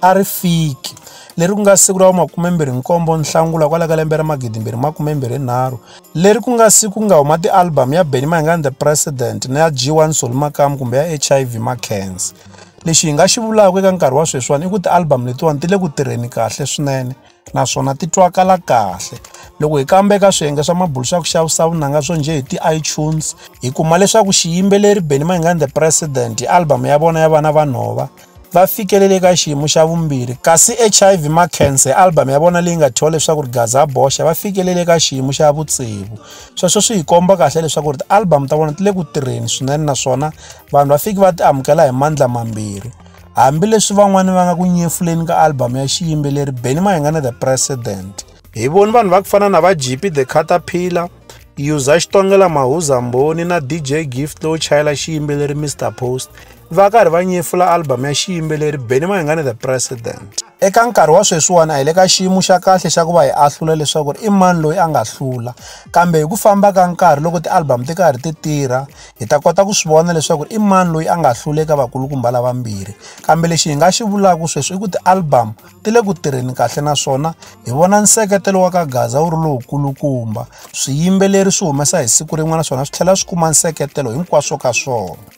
a ri fiki leri ku nga siku ra vu-27 Nhlangula kwala ka lembe ra 2023 leri ku nga siku ku nga huma ti-album ya Benny Mayengani The President na ya G1 Solly Makamu kumbe ya HIV Makhensa. Lexi hi nga xi vulaka eka nkarhi wa sweswiwani i ku ti-album letiwani ti le ku tirheni kahle swinene. naswona ti twakala kahle loko hi kamba eka swiyenge swa mabulu swa ku xavisa vunanga swo njhe hi ti-itunes hi kuma leswaku xiyimbeleri benny mayingani the president hi album ya vona ya vana vanhova va fikelele eka xiyimo xa vumbirhi kasi hiv macancer hi album ya vona leyi nga thyiwa leswaku ri gaza boxa va fikelele eka xiyimo xa vutsevu sweswo swi hi komba kahle leswaku ri ti-album ta vona ti le ku tirheni swinene naswona vanhu va fiki va ti amukela hi mandla mambirhi Hambileswi van'wana va nga ku nyefuleni ka album ya xiyimbeleri Benny Mayengana The President. Hi voni vanhu va ku fana na va GP The Caterpillar, Yuza Xitongela Mahuza Mboni na DJ Gift lowu chayela xiyimbeleri Mr Post va karhi va nyefula album ya xiyimbeleri Benny Mayengana The President. Eka nkarhi wa sweswiwani a hi le ka xiyimo xa kahle xa ku va hi ahlula leswaku i mani loyi a nga hlula kambe hi ku famba ka nkarhi loko ti-album ti karhi ti tirha hi ta kota ku swi vona leswaku i mani loyi a nga hlula eka vakulukumba lavambirhi kambe lexi hi nga xi vulaka sweswi i ku ti-album ti le ku tirheni kahle naswona hi vona nseketelo wa ka gaza wu ri lowukulukumba swiyimbeleri swi humesa hi siku rin'wana naswona swi tlhela swi kuma nseketelo hinkwaswo ka swona